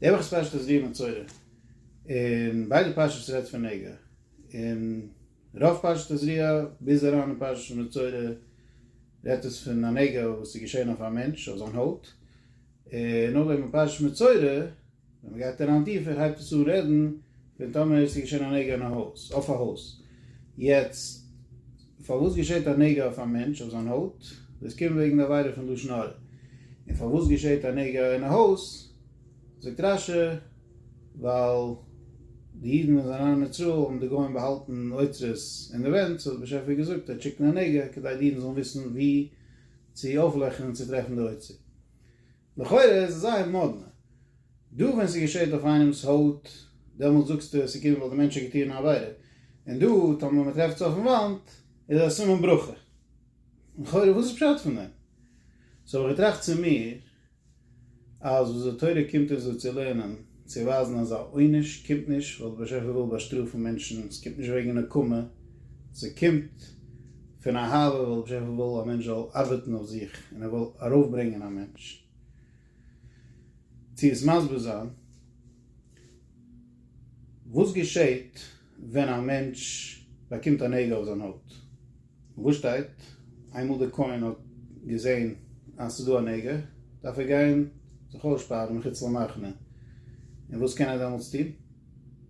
די וואך איז פרשת אז וימצורע, און ביידע פרשות רעדט פון נגע, און רוב פרשת אז ר ה ביז אריין אין פרשת ומצורע רעדט עס פון א נגע וואס איז געשען אויף א מענטש אויף זיין הויט, און נאכדעם אין פרשת מצורע ווען מען גייט אריין טיפער הייבט עס אן רעדן ווען טאמער עס איז געשען א נגע אין א הויז, אויף א הויז, יעצט פארוואס געשעט א נגע אויף א מענטש אויף זיין הויט, דאס קומט וועגן די עבירה פון לשון הרע, און פארוואס געשעט א נגע אין א הויז, זאגט רש י, ווייל די אידן ווען זיי זענען אין מצרים האבן די גוים באהאלטן אוצרות אין די ווענט, סאו האט דער באשעפער געזאגט ער וועט שיקן א נגע כדי די אידן זאלן וויסן וואו צו אויפלעכן און צוטרעפן די אוצר. לכאורה איז עס זייער מאדנע דא ווען ס'געשעט אויף איינעמס הויט דעמאלטס זאגסטו ס'קומט ווייל די מענטש האט געטוען א עבירה און דא טאמער מ'טרעפט עס אויפן וואנט איז א סימן ברכה לכאורה וואס איז פשט פון דעם? סאו האב איך געטראכט צו מיר אז וואס די תורה קומט אונז דא צו לערנען צו ווייזן אז א עונש קומט נישט ווייל דער באשעפער וויל באשטראפן מענטשן, עס קומט נישט וועגן נקמה, זי קומט פון אהבה ווייל דער באשעפער וויל א מענטש זאל ארבעטן אויף זיך און ער וויל ארויפברענגען א מענטש. צו עס מסביר זיין, וואס געשעט ווען א מענטש באקומט א נעגל אויף זיין הויט, וואו שטייט, איינמאל די כהן האט געזען אז ס'איז דא א נעגל, דארף ער גיין זיך אויסשפארן מחוץ למחנה, און וואס קען ער דעמאלטס טון?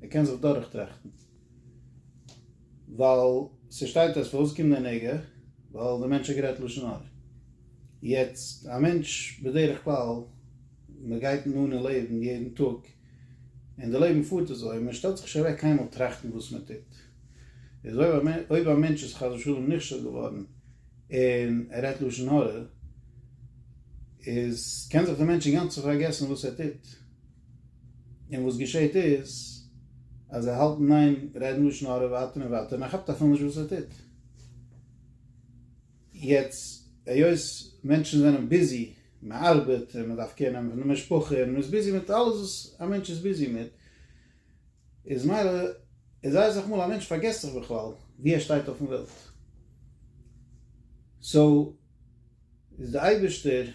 ער קען זיך דורכטראכטן, ווייל ס'שטייט דארט פארוואס קומט דער נעגל, ווייל דער מענטש האט גערעדט לשון הרע. יעצט א מענטש בדרך כלל מען גייט אן און לעבן יעדן טאג, און די לעבן פארט אזוי, מען שטעלט זיך נישט אוועק קיינמאל טראכטן וואס מען טוט, איז אויב א מענטש איז חס ושלום נכשל געווארן און ער רעדט לשון הרע, איז קען זיך די מענטש אינגאנצן פארגעסן וואס ער טוט, און וואס געשעהט איז אז ער האלט ניין רעדן לשון הרע ווייטער און ווייטער און ער כאפט אפילו נישט וואס ער טוט. יעצט היות מענטשן זענען ביזי, מען ארבעט און מען דארף קעיר נעמען פון די משפחה און מען איז ביזי מיט אלעס וואס א מענטש איז ביזי מיט, איז מילא איז זייער אסאך מאל א מענטש פארגעסט זיך בכלל ווי ער שטייט אויפן וועלט. סאו איז די אייבערשטער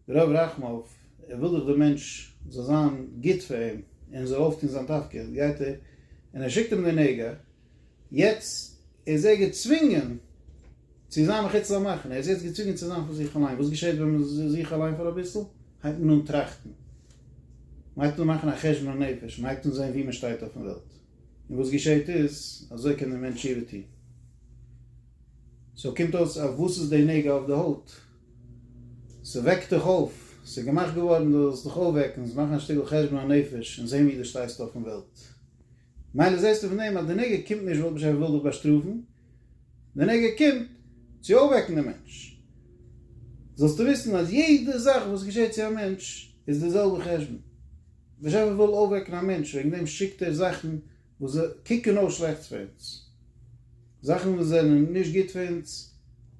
רב רחמיו ער וויל דאך די מענטש זאל זיין גוט פאר אים און זאל אויפטון זיין תפקיד גייט ער און ער שיקט אים די נגע, יעצט איז ער געצווינגען צו זיין מחוץ למחנה, ער איז יעצט געצווינגען צו זיין פאר זיך אליין, וואס געשעהט ווען מען איז זיך אליין פאר אביסל? הייבט מען אן טראכטן, מען הייבט אן מאכן א חשבון הנפש, מען הייבט אן זעהן וואו מען שטייט אויפן וועלט, און וואס געשעהט איז, אזוי קען דער מענטש תשובה טוהן. סאו קומט אויס אויף וואס איז די נוגע אויף די הויט? ס'וועקט דיך אויף, ס'איז געמאכט געווארן דו זאלסט דיך אויפוועקן, זאלסט מאכן א שטיקל חשבון הנפש און זעהן וואו דו שטייסט אויפן וועלט. מילא זעסטו פון דעם אז די נגע קומט נישט ווייל באשעפער וויל דיך באשטראפן, די נגע קומט צו אויפוועקן די מענטש. זאלסטו וויסן אז יעדע זאך וואס געשעט צו א מענטש איז די זעלבע חשבון. באשעפער וויל אויפוועקן א מענטש וועגן דעם שיקט ער זאכן וואס קוקן אויס שלעכטס פאר אונז. זאכן וואס זענען נישט גוט פאר אונז.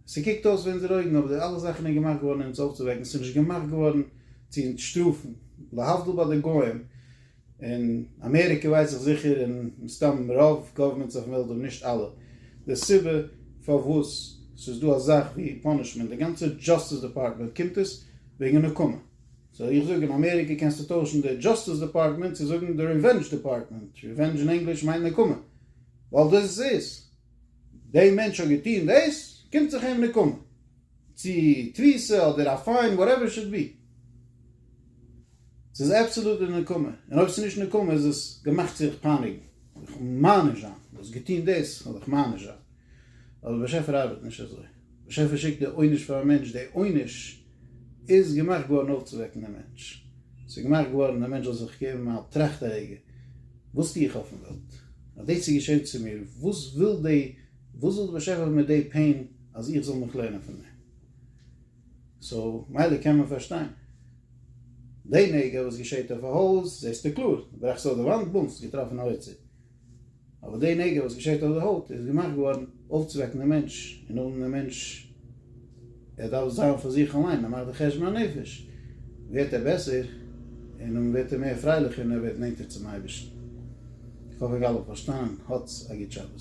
ס'קוקט אויס פאר אונזערע אויגן אבער די אלע זאכן איז געמאכט געווארן אונז אויפצואוועקן, ס'איז נישט געמאכט געווארן צו אונז שטראפן. להבדיל ביי די גוים. אין אמעריקע ווייס איך זיכער און מסתם רוב גאווערמענטס אויפן וועלט אויב נישט אלע, די סיבה פארוואס ס'איז דא א זאך ווי פאנישמענט, די גאנצע דזשאסטיס דעפארטמענט קומט עס וועגן נקמה. סאו איך זאג אין אמעריקע קענסטו טוישן די דזשאסטיס דעפארטמענט צו זאגן די ריווענדזש דעפארטמענט, ריווענדזש אין ענגליש מיינט נקמה, ווייל דאס איז די מענטש האט געטוהן דאס קומט זיך אים נקמה, צו תפיסה אדער א פיין וואטעווער איט שוד בי. ס'איז אבסעלוט די נקמה, און אויב ס'איז נישט נקמה איז עס געמאכט צו זיך פייניגן, זיך מעניש זיין, דו האסט געטון דאס, כ'וועל דיך מעניש זיין. אבער דער באשעפער ארבעט נישט אזוי. דער באשעפער שיקט די עונש פאר א מענטש, די עונש איז געמאכט געווארן אויפצואוועקן דעם מענטש. ס'איז געמאכט געווארן דער מענטש זאל זיך געבן א טראכט א רגע, וואס טו איך אויפן וועלט? אז דאס איז געשען צו מיר, וואס וויל די, וואס וויל דער באשעפער מיט די פעין אז איך זאל מיך לערנען פון דעם? סאו מילא קען מען פארשטיין די נגע וואס געשעט אויף א הויז, זעסטו קלאר, ברעכסט אויף די וואנט, בום, ס'איז געטראפן א אוצר. אבער די נגע וואס געשעט אויף די הויט איז געמאכט געווארן אויפצווועקן דעם מענטש, און אן דעם מענטש, ער דארף זיין פאר זיך אליין, ער מאכט די חשבון הנפש, ווערט ער בעסער, און און ווערט ער מער פרייליך און ער ווערט נענטער צום אייבערשטן. איך האף איך האב אלע פארשטאנען, האטס א גוט שבת.